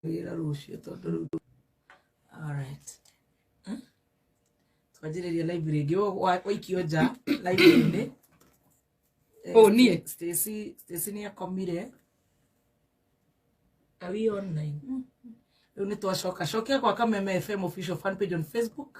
wĩra rũciũ tondũ rĩu ndũ- Alright. Hmm? twanjĩrĩria live rĩngĩ Ũyũ wa- waikio nja live-inĩ Eh, Oh, niĩ? Stacy Stacy nĩ akomire are we online rĩu nĩ twacoka cokia gwa kameme fm official fan page on facebook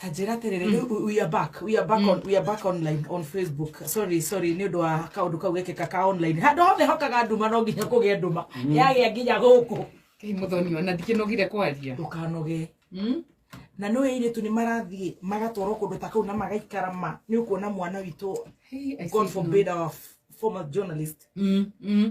tanjĩra atĩrĩrĩ rĩu mm. we are back we are back mm. on we are back online on facebook sorry sorry nĩ ũndũ wa kaũndũ kau gekĩka ka online handũ hothe hokaga nduma no nginya kũgĩa nduma mm. yagĩa nginya gũkũ kei mũthoni ona ndikĩnogire kwaria ndũkanoge na nä ä irä tu nä marathiä magatwarwo kå ndå ta kau na magaikara ma nä å kuona mwana witå god forbid our former journalist mm, mm.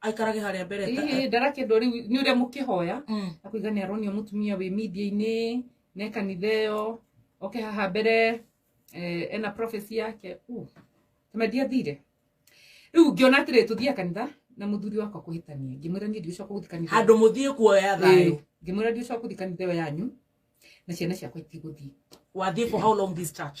aikarage harĩa mbere ta- Ĩĩ, ndarakĩendwo rĩu nĩ ũrĩa mũkĩhoya Mm. na kũiga nĩ aronio mũtumia wĩ media-inĩ ne kanitha ĩyo oke haha mbere eh, ena prophecy yake Uh, tũmendia thire rĩu ngĩona atĩrĩ tũthiaga kanitha na mũthuri wakwa kũhĩtania ngĩmwĩra niĩ ndigũcoka gũthi kanitha handå må thiä kuoya thayå Ĩĩ, ngĩmwĩra ndigũcoka gũthi kanitha ĩyo yanyu na ciana ciakwa itigũthiĩ wathiä for how long this church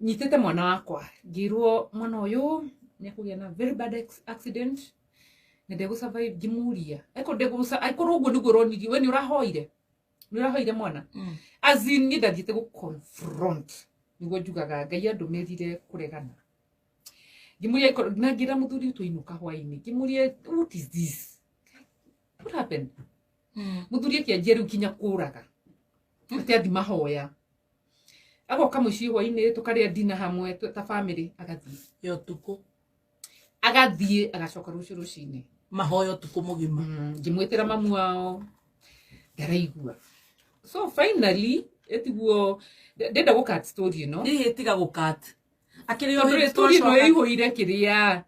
nyitĩte mwana wakwa ngĩirwo mwana ũyũ nĩ akũgĩa na very bad ex- accident na ndegũ survive ngĩmuria aiko ndegũ aikorwo ũguo nĩguo ũronirie we nĩ ũrahoire nĩ ũrahoire mwana Mm. as in niĩ ndathiĩte gũ confront nĩguo njugaga ngai andũmĩrire kũregana ngĩmũria aikorwo na ngĩra mũthuri ũtũ inũka hwainĩ ngĩmũria what is this what happened Mm. muthuri akianjia riu kinya kuraga ati athi mahoya agoka mucii hwaini tukaria dina hamwe tu- ta family agathie ya ũtukũ agathie agacoka rucio rucini mahoya ũtukũ mũgima ngimwitira mamu wao ndaraigua so finally etiguo ndenda gukat story ino hihi tiga gũkat akĩrĩ o tondu hĩndĩ story ino twacoka- ĩihũire kĩrĩa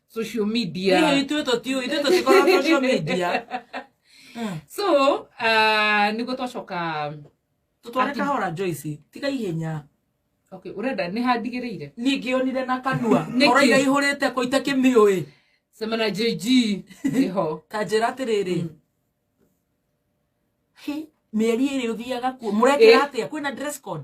social media Hihi ithuĩ tũtiũĩ ithuĩ tũtikorwo social media Mm. so uh, niguo twacoka tũtware Ati- kahora Joyce tiga ihenya okay urenda nĩ handigĩrĩire ningĩ onire na kanua Nĩkĩ? oraiga ihũrĩte kũ itakĩmĩũĩ sema na jg ĩho ta njĩra atĩrĩrĩ Mm. Hi, mĩeri ĩrĩ ũthiaga kuo mũrekĩra Ĩ. atĩa kwĩna dress code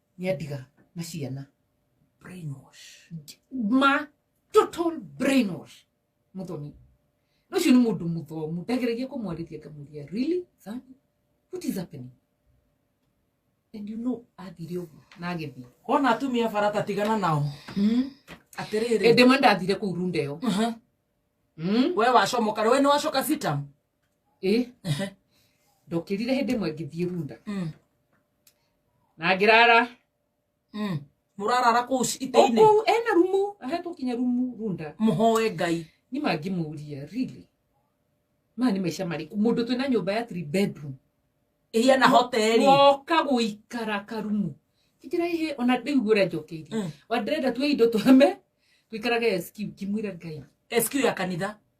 nĩandiga na ciana brainwash ma total brainwash muthoni na ucio ni mundu muthomu ndageragia kumwarithia ngamuria really Thani? what is happening and you know athire uguo na agithii wona atumia barata tigana nao atiriri ende mwe ndathire kuu rundeo Mhm. Mm. we wacomoka we ni wacoka sitam ĩ ndokĩrire hĩndĩ ĩmwe ngĩthiĩ runda Mm. na ngĩrara Mm. mũrarara kũu o itĩ-inĩ kũu ena rumu ahetwo kinya rumu runda mũhoe ngai nĩ mangĩmũria really maya nĩ maica marĩkũ mũndũ twĩna nyũmba ya three bedroom ĩhiana hoteri woka gũikara karumu kĩkĩra ihe ona rĩu ũrĩa njokeirie Mm. wa ndĩrenda tuoe indo twame tũikarage SQ ngĩmwĩra ngai SQ ya kanitha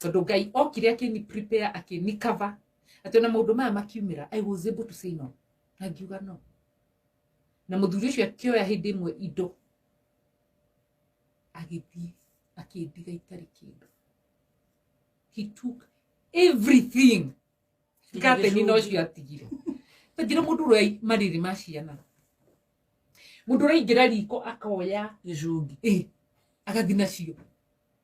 tondå ngai okire akĩni prepare akĩni cover atĩ ona maũndũ maya makiumĩra i was able to say no na ngiuga no na mũthuri ũcio akĩoya hĩndĩ ĩmwe indo agĩthiĩ akĩndiga itarĩ kĩndũ he took everything kateni no cio atigire tangira mũndũ ũrĩa marĩrĩ ma ciana mũndũ ũraingĩra riko akoya gĩcungi ĩ agathi nacio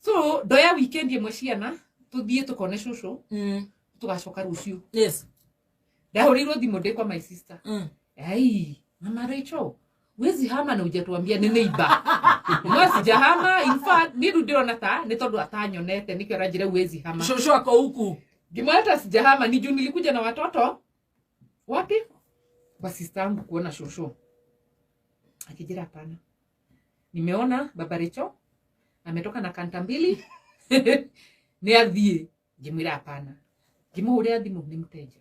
so ndoya weekend ĩmwe ciana tũthiĩ tũkone cũcũ Mm. tũgacoka rũciũ Yes. ndahũrĩirwo thimũ ndĩ kwa my sister Mm. ai mama Rachel wezi hama na ujatuambia nĩ neighbor no sijahama in fact nĩ rĩu ndĩrona ta nĩ tondũ atanyonete nĩkĩo aranjĩra wezi hama Shosho ako huku. ngimweta sijahama ni juu nilikuja na watoto wapi kwa sister yangu kuona shosho akijira hapana nimeona baba Recho ametoka na kanta mbili ni athiĩ ngĩmwĩra hapana ngĩmũhũrĩra thimũ nĩ mteja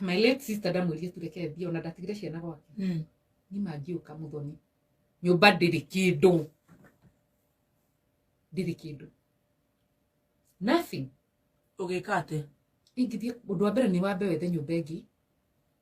my late sister ndamwĩrire tureke thiĩ ona ndatigire ciana gwake Mm. nima ngiũka mũthoni nyũmba ndĩrĩ kĩndũ ndĩrĩ kĩndũ nothing Ũgĩka atĩ. ingĩthiĩ ũndũ wa mbere nĩ wambe wethe nyũmba ĩngĩ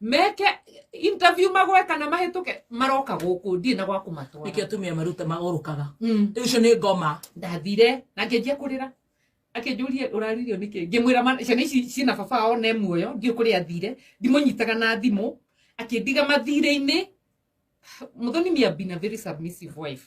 meke interview magwe kana mahĩtũke maroka gũkũ ndirĩ na gwa nĩkĩo kũmatwara atumia maruta maũrũkaga Mm. rĩu ũcio nĩ ngoma ndathire na ngĩnjia kũrĩra akĩnjũria ũraririo nĩkĩ ngĩmwĩra ma- ciana ici ciĩna baba wao ne muoyo ndiũ kũrĩa athire ndimũnyitaga na thimũ akĩndiga mathirĩ-inĩ mũthoni miambi na very submissive wife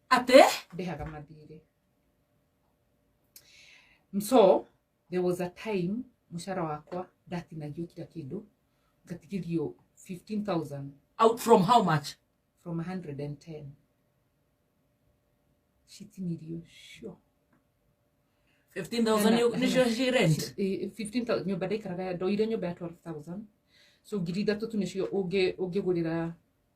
atĩ ndĩhaga mathirĩ so there was a time mũcara wakwa ndatinagio kira kĩndũ ngatigithio 15000 out from how much from 110 citinirio cio 15000 nĩ- nĩcio ci rent Eh, 15,000 nyũmba ndaikaraga ndoire nyũmba ya 12000 so ngiri ithatũ tu nĩcio ũngĩ- ũngĩgũrĩra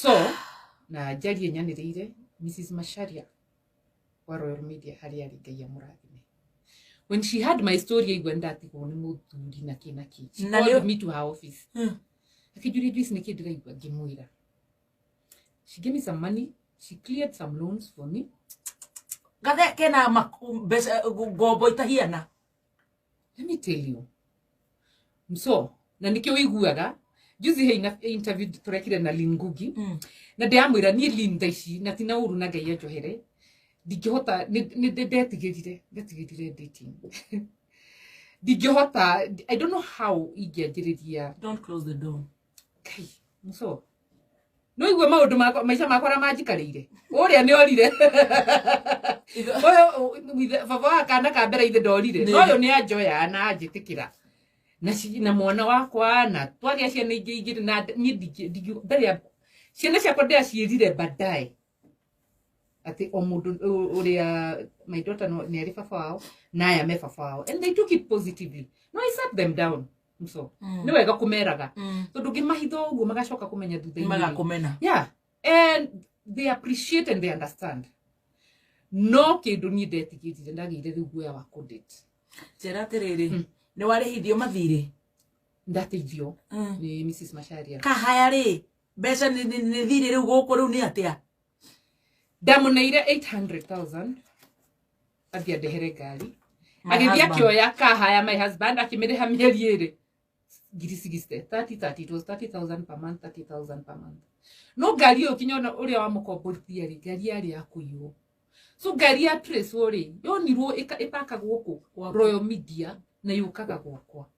so na njarie nyanĩrĩire mrs masharia wa royal media harĩa arĩ ngai amũrathime when she had my story aigua ndatigwo nĩ mũthuri na kĩ na kĩ She Na nĩ- called me to her office Hmm. akĩnjuria indo ici nĩkĩ ndĩraigua ngĩmwĩra she gave me some money she cleared some loans for me gathe kena maku- mbeca ngombo itahiana Let me tell you. So, na nikio wiguaga juzi he ina- he interview turekire na Lin Ngugi Mm. na ndiramwira nie Lin thaa ici na tina uru na ngai anjohere ndingihota nĩ- nĩ- nĩ- ndetigĩrire ndetigĩrire dating ndingihota i don't know how ingĩanjĩrĩria Don't close the door. kai muco no igue maundu makwa maica makwa ra manjikarire uria ni orire uyu baba wa kana ka mbere ithe ndorire no uyu ni anjoya na anjitikira na ci- na mwana wakwa na twagia ciana ingĩ ingĩ na ndingiuga ciana ciakwa ndĩraciĩrire baadaye ati o mundu uria my daughter no- ni ari baba wao na aya me baba wao and they took it positively no i sat them down so Mm. ni wega kumeraga Mm. tondu ngimahitha uguo magacoka kumenya thutha-inĩ. magakumena yeah and they appreciate and they understand no kindu ni ndetigirire ndagire riu guoya wa kundate njĩra atĩrĩrĩ Mm. nĩ warĩhithio mathirĩ ndateithio Mm. ni mrs masharia kahaya rĩ mbeca nĩ- nĩ nĩ thirĩ rĩu gũkũ rĩu nĩ atĩa ndamuneire 800000 athiĩ andehere ngari My agĩthiĩ husband. akĩoya kahaya my husband akĩmĩrĩha mĩeri ĩrĩ ngiri cigiste 30 it was 30000 per month 30000 per month no ngari ĩyo kinya ona ũrĩa wamũkomborithia rĩ ngari yarĩ ya kũiywo so ngari ya trace rĩ yonirwo ĩka- ĩpakagwo kũ Gwaku. royal media na yũkaga gwakwa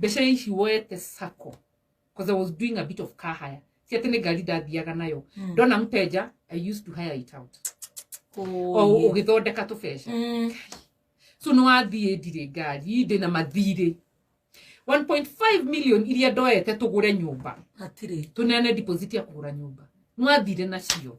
They say she went to Sacco because I was doing a bit of car hire. Si ati ni gari ndathiaga nayo. Mm. Ndona mteja, I used to hire it out. O Oh. ũgĩthondeka tũbeca. Mm. So no athiĩ ndirĩ ngari, ndĩ na mathirĩ. 1.5 million iria ndoete tũgũre nyũmba. Hatirĩ. Tũneane deposit ya kũgũra nyũmba. Nwathire nacio.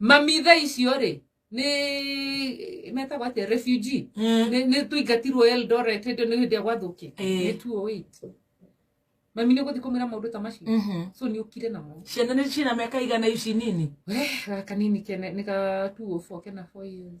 mamitha icio rĩ nĩ metagwo atĩa refugee Eh, Nĩ- nĩ tũingatirwo eldoret hĩndĩ nĩ hĩndĩ ya gwathũkĩ Eh. nĩ 208 mami nĩ gũthiĩ kũmĩra maũndũ ta macio mhm. so nĩ ũkire namo ciana nĩ ciĩna mĩaka igana ici nini we gaka nini kene nĩ ga 204 kena 4 years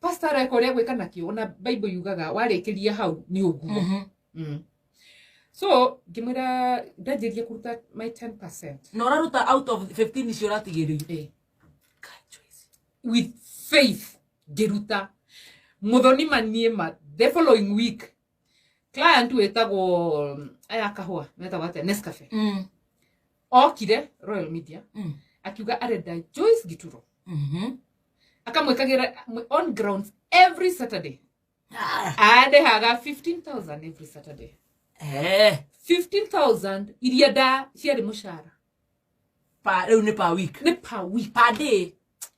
pastor areka ũrĩa gwĩka nakĩo ona bible yugaga warĩkĩria hau nĩ ũguo Mhm. mm. so ngĩmwĩra ndanjĩrie kũruta my 10 na ũraruta out of 15 icio ũratigĩrĩire Eh. with faith ngĩruta mũthoni manie ma the following week client wetagwo mm, aya kahua metagwo atia nescafe Mm. okire royal media Mm. akiuga arenda joyce gituro Mhm. akamwikagira mwe- on grounds every saturday Ah. adehaga 15000 every saturday Eh. 15000 iria nda ciarĩ mũcara Pa- rĩu nĩ per week nĩ per week per day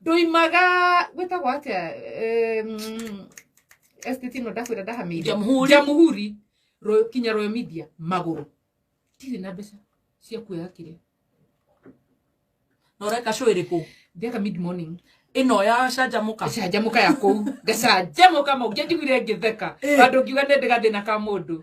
ndoimaga gwĩtagwo atĩa em, estate ĩno ndakwĩra ndahamĩire Jamhuri. jamuhuri Royal- kinya royo media magũrũ ndirĩ na mbeca cia kuoya kĩrĩa na ũreka cũ ĩrĩkũ ndĩaka mid morning ĩno ya canjamũka canjamũka ya kũu ngacanjamũka mau ngenjiguire ngĩtheka Eh. andũ ngiuga nĩ ndĩgathĩna ka mũndũ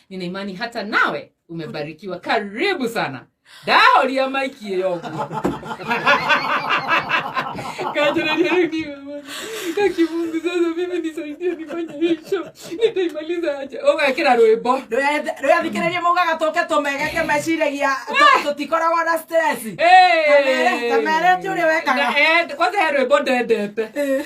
nina imani hata nawe umebarikiwa karibu sana dahoria maikie yoguo kakimungu sasa mimi nisaidie nifanye hicho nitaimaliza aje ugekira rwimbo rwĩathikĩrĩrie maugaga tũke tũmegeke meciragia tũ- tũtikoragwo na stress Kamere- kamere ti ũrĩa wekaga. kwanza he rwimbo ndendete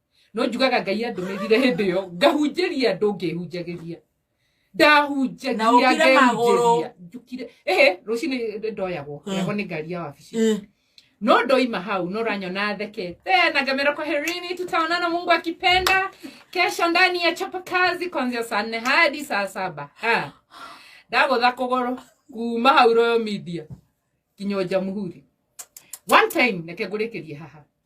no njugaga ngai andũmĩrire hĩndĩ ĩyo ngahunjĩria andũ ngĩhunjagĩria ndahunjagia Na ũkire magũrũ. ngehunjĩria njũkire ehe rũcinĩ ndoyagwo Mm. yagwo nĩ ngari ya wabici Eh, no ndoima hau no ranyona thekete na ngamera kwa herini tutaonana mungu akipenda kesho ndani ya chapa kazi kuanzia saa nne hadi saa saba Ah. ndagũtha kũgũrũ kuma hau royo media nginya nja mũhuri one time reke ngũrĩkĩrie haha